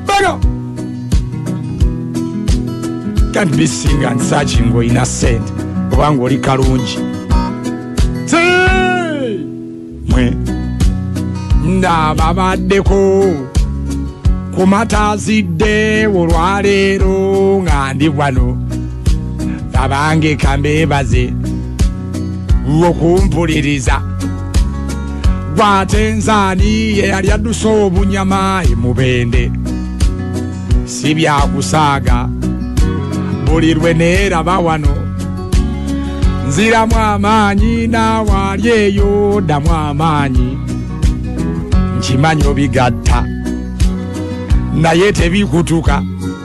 Bano can't be sing and searching or in a set kubanga oli kalungi mwe ndababaddeko kumatazidde olwaleero nga ndi wano abange kambebaze okumpuliriza gwate nzaani ye yali adduse obunyama emubende si byakusaaga buli lwe neeraba wano nziramu amaanyi n'awaali eyo ddamu amaanyi nkimanyi obigatta naye tebikutuka